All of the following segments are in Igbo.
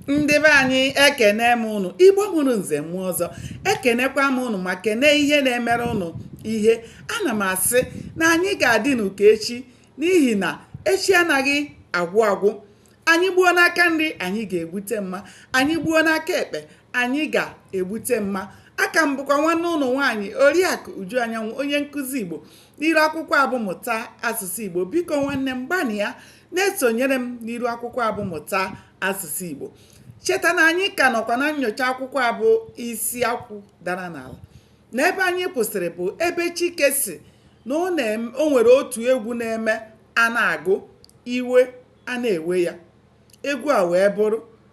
ndị be anyị ekene m ụnụ igbo mụrụ nze mụọ ọzọ ekenekwa m ụnụ ma kene ihe na-emere ụnụ ihe ana m asị na anyị ga-adịnụ ka echi n'ihi na echi anaghị agwụ agwụ anyị gbuo n'aka nri anyị ga-egbute mma anyị gbuo n'aka ekpe anyị ga-egbute mma aka m bụkwa nwanne ụnụ nwaanyị oriakụ uju anyanwụ onye nkụzi igbo n'iru akwụkwọ a bụ mụta asụsụ igbo biko nwanne m gbanịa na-esonyere m n'iru akwụkwọ a bụ mụta asụsụ Igbo cheta na anyị ka nọkwa na nyocha akwụkwọ a bụ isi akwụ dara n'ala na ebe anyị kwụsịrị bụ ebe Chike sị na o nwere otu egwu na-eme a na-agụ iwe a na-ewe ya egwu a wee bụrụ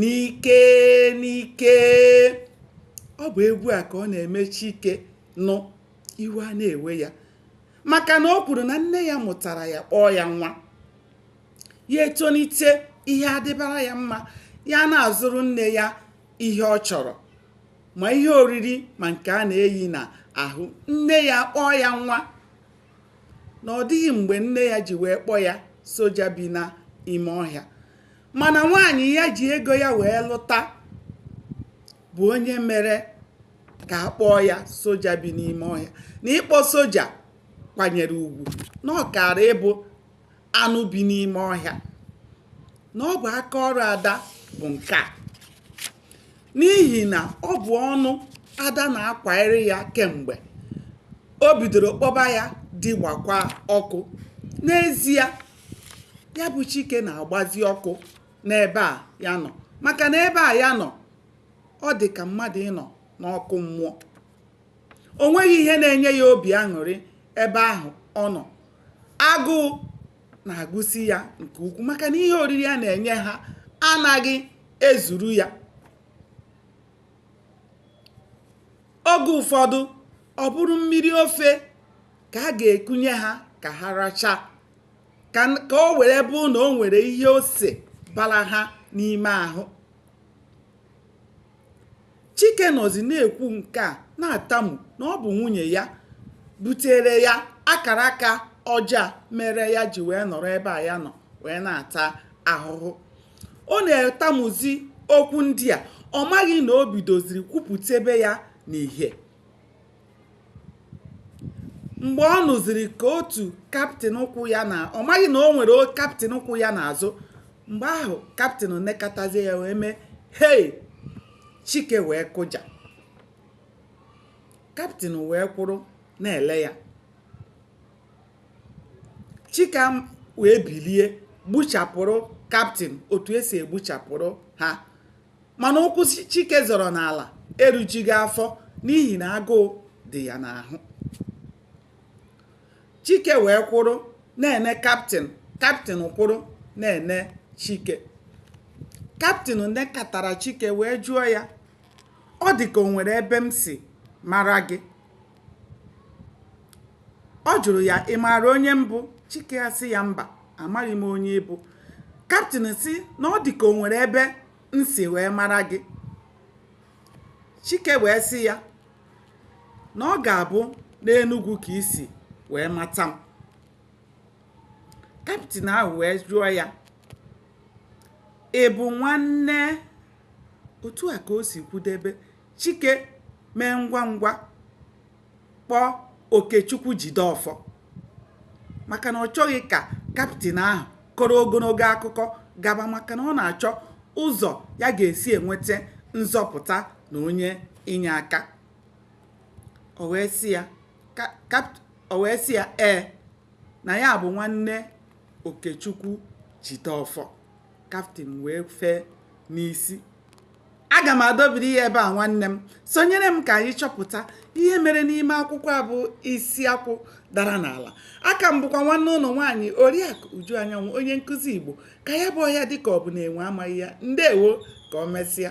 n'ike n'ike ọ bụ egwu a ka ọ na-eme chike nụ iwe a na-ewe ya maka na o kwuru na nne ya mụtara ya kpọọ ya nwa ya etonite ihe adịbara ya mma ya na-azụrụ nne ya ihe ọ chọrọ ma ihe oriri ma nke a na-eyi na ahụ nne ya kpọọ ya nwa na ọ dịghị mgbe nne ya ji wee kpọọ ya soja bi n'ime ọhịa mana nwaanyị ya ji ego ya wee lụta bụ onye mere ka a kpọọ ya soja bi n'ime ọhịa na ịkpọ soja kwanyere ugwu na ọ kaara ịbụ anụ bi n'ime ọhịa na ọ bụ aka ọrụ ada bụ nke a n'ihi na ọ bụ ọnụ ada na-akwanyere ya kemgbe o bidoro kpọba ya di gbakwa ọkụ n'ezie ya bụ chike na-agbazi ọkụ n'ebe a ya nọ maka na ebe a ya nọ ọ dị ka mmadụ ịnọ n'ọkụ mmụọ o nweghị ihe na-enye ya obi aṅụrị ebe ahụ ọ nọ agụụ na-agụsi ya nke ukwuu maka na ihe oriri a na-enye ha anaghị ezuru ya oge ụfọdụ ọ bụrụ mmiri ofe ka a ga-ekunye ha ka ha racha ka o were bụ na o nwere ihe ose bara ha n'ime ahụ chike nọzi na-ekwu nke a na-atamu na ọ bụ nwunye ya butere ya akara aka ọjọọ mere ya ji wee nọrọ ebe a ya nọ wee na-ata ahụhụ Ọ na-etamuzi okwu ndị a ọ maghị na o bidoziri kwupụtebe ya n'ihe mgbe ọ nụziri ka otu kaptịn kwụ ya na ọ maghị na o nwere kaptịn kwụ ya n'azụ mgbe ahụ kaptịn nekatazie ya wee mee hei chike wee kụja kaptịn wee kwụrụ na-ele ya chike wee bilie gbuchapụrụ kaptịn otu esi egbuchapụrụ ha mana ụkwụ chike zọrọ n'ala erujighị afọ n'ihi na agụụ dị ya n'ahụ chike wee kwụrụ na-ene kaptịn kaptịn kwụrụ na-ene chike kaptịn nekatara chike wee jụọ ya ọ dị ka o nwere ebe m si mara gị ọ jụrụ ya ị maara onye m bụ chike asị ya mba amaghị m onye ị bụ kaptịn sị na ọ dị ka o nwere ebe m si wee mara gị chike wee sị ya na ọ ga-abụ n'enugwu ka i si wee mata m kaptịn ahụ wee jụọ ya ị bụ nwanne otu a ka o si kwudebe Chike mee ngwa ngwa kpọọ Okechukwu Jideọfọ maka na ọ chọghị ka kaptịn ahụ kọrọ ogologo akụkọ gaba maka na ọ na-achọ ụzọ ya ga-esi enweta nzọpụta na onye inye aka o wee sị ya ee na ya bụ nwanne Okechukwu Jideọfọ kaptịn wee fee n'isi aga m adọbiri ya ebe a nwanne m sonyere m ka anyị chọpụta ihe mere n'ime akwụkwọ a bụ isi akwụ dara n'ala aka m bụkwa nwanne unu nwaanyị oriakụ uju anyanwụ onye nkụzi igbo ka ya bụ ọhịa dịka ọ bụ na enwe amaghị ya ndewo ka o mesịa